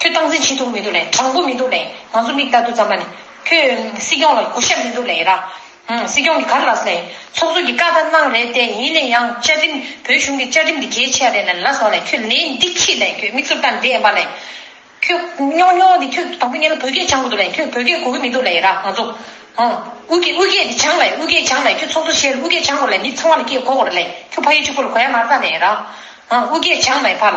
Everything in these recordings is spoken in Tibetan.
ཁྱོད་སྟངས་འཛིན་བྱེད་ཐུབ་མི་འདུག་ལེ་དྲང་པོ་མི་འདུག་ལེ་ང་ཚོ་མིག་ལྟ་དུ་ཙམ་མ་ནི། ཁྱོད་སྲིད་སྐྱོང་ལ་གུ་ཤ་མི་འདུག་ལེ་ར། སྲིད་སྐྱོང་གི་གར་ལགས་ལེ། ཚོགས་གཙོ་གི་བཀའ་ལྟར་གནང་རེད་དེ་ཡིན་ནས་ཡང་བཅའ་ཁྲིམས་བོད་གཞུང་གི་བཅའ་ཁྲིམས་དེ་གལ་ཆེ་རེད་ལེ་ལ་སོང་ལེ་ཁྱོད་ལེ་འདི་ཁྱི་ལེ་ཁྱོད་མིག་ཟུར་ལྟ་འདི་ཨེ་འབའ་ལེ། ཁྱོད་རྙོག་རྙོག་འདི་ཁྱོད་དང་པོ་ཉན་ལ་བོད་སྐད་སྦྱང་དགོས་འདུག་ལེ་ཁྱོད་བོད་སྐད་གོ་གི་མི་འདུག་ལེ་ར་ང་ཚོ། དབུས་སྐད་དབུས་སྐད་དེ་སྦྱང་ལེ་དབུས་སྐད་སྦྱང་ལེ་ཁྱོད་ཚོགས་གཙོ་བྱས་ལ་དབུས་སྐད་སྦྱང་དགོས་ལེ་མི་ཚང་བ་ལ་སྐད་གོ་དགོས་རེད་ལེ་ཁྱོད་ཕ་ཡུལ་གཅིག་པོ་ལ་གོ་ཡ་མ་ལྟ་ནས་ར། དབུས་སྐད་སྦྱང་ལེ་ཕ་ལ།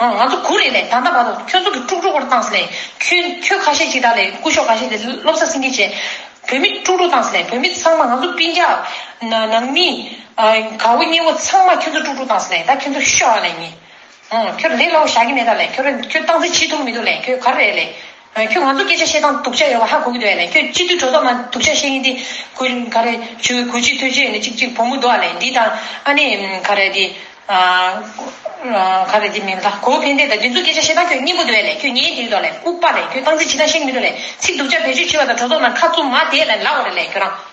ང་ཚོ་གུ་རེ་ནས་ད་ལྟ་བར་དུ་ཁྱོད་ཚོ་གི་དཀྲུག་དཀྲུག་པར་བཏང་ཟེར་ནས་ཁྱོད་ཁྱོད་ཁ་ཤས་ཅིག་དག་ལས་སྐུ་ཞོག་ག་ཤས་དེ་སློབ་གསར་སེང་གེ་བྱས། བོད་མི་དཀྲུག་དཀྲུག་བཏང་ཟེར་ནས་བོད་མི་ཚང་མ་ང་ཚོ་སྤིན་རྒྱག། ནང་མི། ག་བོ་སྙེ་བོ་ཚང་མ་ཁྱོད་ཚོ་དཀྲུག་དཀྲུག་བཏང་ཟེར་ནས་ད་ཁྱོད་ཚོ་ཤོག་ཨ་ལས་ཉེས། ཁྱོད་ལས་སླ་བོ་བཞག་གི་མེད་ད་ལས་ཁྱོད་ཁྱོད་བཏང་ཟིན་ཇི་ཐུབ་མི་ཐུབ་ལས་ཁྱོད་ག་རེ་ལས། ཁྱོད་ང་ཚོ་སྐད་ཆ་བཤད་སྟངས་དུག་ཆ་ཡོད་པ་ཧ་གོ་གི་འདུག་ཡ་ནས་ཁྱོད་སྤྱི་འཐུས་གྲོ་སོག་ང་དུག་ཆ་བཤད་ཀྱིན་དེ་གུ་ག་རེ་ཆུ་གུ་ཆུ་ཐོད་ཆུ་ཡ་ནས་ཅིག་ཅིག་བུ་མོ་འདུག་ཨ་ལས་འདི་དང་ཨ་ནེ་ག་རེ་འདི་ག་རེ་འདི་མིང་ད་གོ་ཕན་བདེ་ད་འདི་ཚོ་སྐད་ཆ་བཤད་སྟངས་ཁྱོད་སྙན་པོ་འདུག་ཡ་ནས་ཁྱོད་ཉན་གྱིན་འདུག་ཨ་ལས་ཨུ་པ་ལས་ཁྱོད་སྟངས་འཛིན་བྱེད་སྟངས་ཤེས་གི་མི་འདུག་ལས་ཚིག་དུག་ཆ་བེད་སྤྱོད་བྱེད་པ་དང་གྲོ་སོག་ནང་ཁ་བཙུམ་མ་བསྡད་ལ་ལག་འོ་རེ་ལས་ཁྱོད་རང།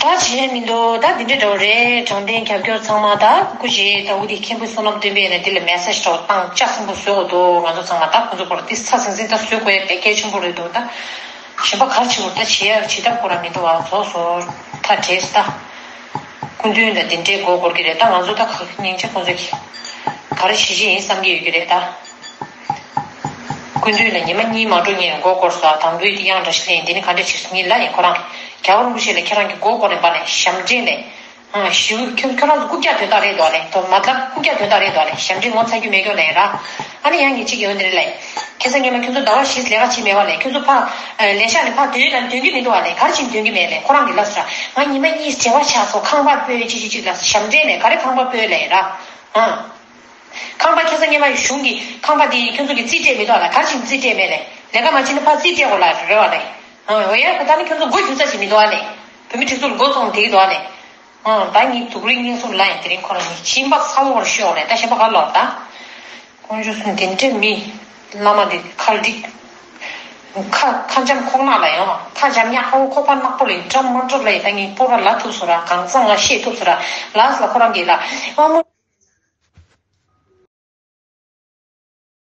ད་བྱས་མི་འདུག་ད་འདི་འདྲའི་འདྲ་བོ་རེད་དྲང་བདེན་རྒྱབ་སྐྱོར་ཚང་མ་ད་སྐུ་བཞེས་ད་འུ་ཐིག་མཁན་པོའི་བསོད་ནམས་སྟོན་པས་ནས་འདི་ལ་མེ་སྲེག་ཤོག་སྟངས་དཔྱ་ཆེན་པོ་བཟོས་འོ་འདུག་ང་ཚོ་ཚང་མ་ད་ཁོ་ཚོ་སྐོར་ཏིས་ཚ་ཟིང་ཟིང་ད་བཟོས་དགོས་ཡ་པེ་སྐལ་ཆེན་པོ་རེད་འདུག་ད་གཞན་པ་གར་བྱེད་འོ་ད་བྱེད་ཡ་ཇི་ལྟར་དགོས་ར་མི་འདུག་ཨ་ཚོགས་སོ་ད་བྲེས་ད་སྐུ་མདུན་ད་འདི་འདྲའི་མགོ་སྐོར་གྱི་རེད་ད་ང་ཚོ་ད་ག་གི་སྙིང་ཆ་ཁོ་ཚོ་གིས་ག་ར་བྱེད་བྱེད་ཡིན་བསམ་གྱི་ཡོད་ཀྱི་རེད་ད། ཀུན་བཏུས་ལ་ཉི་མ་གཉིས་མ་འགྲོ་ངས་མགོ་བསྐོར་སོ་དང་པོའི་དེ་ཡང་འདྲ་ཞིག་ལེན་འདི་ནི་ག་འདྲའི་ཕྱིར་ཉིད་ལ་ཡང་ཁོ་རང་གིས་རྒྱ་བོར་འགུགས་བྱེད་ལ་ཁྱེད་རང་གིས་མགོ་བསྐོར་ནས་འབར་ནས་ཞབས་འདྲེན་ལས། ཞེའུ། ཁྱོད་ཁྱོད་རང་ཚོ་རྐུབ་བཀྱག་དོན་དག་རེད་འདོག་ལེན་དོ། མ་མཐར་རྐུབ་བཀྱག་དོན་དག་རེད་འདོག་ལེན་ཞབས་འདྲེན་ངོ་ཚ་རྒྱུ་མེད་ཀྱོ་ལེན་ར། ཨ་ནི་ཡང་ངེད་ཅིག་ཡོད་འདི་རེད་ལེན། ཁྱེད་ཚོ་ངེད་མ་ཁྱོད་ཚོ་ཟླ་བ་བཞིས་ལས་ཀ་བྱེད་མེད་བ་ལེན་ཁྱོད་ཚོ་ཕ། ལས་ཤག་ནས་ཕ་དོན་ནམ་དོན་གྱི་མི་འདུག་བ་ལེན་ག་རེ་བྱེད་དོན་གྱི་མེད་ལེན་ཁོ་རང་གིས་ལབ་སོ་ར། ང་ཉི་མ་གཉིས་བྱེ་བ་ཆགས་སོ་ཁང་པར་སྤོས་ཅིག་ཅིག་ཅིག་ལབ་སོ་ཞབས་འདྲེན་ལས་ག་རེ་ཁང་པར་སྤོས་ལེན་ར། ཁང་པ་ཁེ་ས་གཉེར་མ་གཞུང་གིས་ཁང་པ་དེ་ཁྱོད་ཚོ་གི་རྩིས་སྤྲད་མི་ཐོག་ལ་གར་ཕྱིན་རྩིས་སྤྲད་མེད་ནས་ལས་ཀ་མ་བྱིན་ན་ཕར་རྩིས་སྤྲད་གོ་ལ་རེ་བ་ནས་འོ་ཡ་ད་ནི་ཁྱོད་ཚོ་མགོ་འགྱུ་ས་ཞིག་མི་འདུག་ཨ་ནས་བུད་མེད་ཁྲི་ཚོ་ལ་མགོ་ཚོང་དེ་གི་འདུག་ཨ་ནས་ཨ་ད་ངའི་དུག་རིགས་སྙིང་གསུམ་ལ་ཡང་དེ་རིང་ཁོ་རང་གཉིས་ཕྱིན་པ་ས་འོག་རུ་ཤོར་ནས་ད་གཞན་པ་ག་ལ་ལོག་ད་ཁོང་ཆུ་གསུམ་དེ་འདྲའི་མི། བླ་མ་འདི་ཁར་བསྒྲིགས། ཁ། ཁ་འཇམ་ཁོག་ནག་ལ་ཡང། ཁ་འཇམ་གཉའ་ཧོ་ཁོག་པ་ནག་པོ་ལས་བྲམ་དམར་གྲོགས་ལ་ཡི་ད་ངས་སྤོ་ར་ལ་ཐུབ་སོ་ར་གང་བཟང་ང་ཤེས་ཐུབ་སོ་ར་ལགས་ལ་ཁོ་རང་གིས་ལ་དབང་མོ།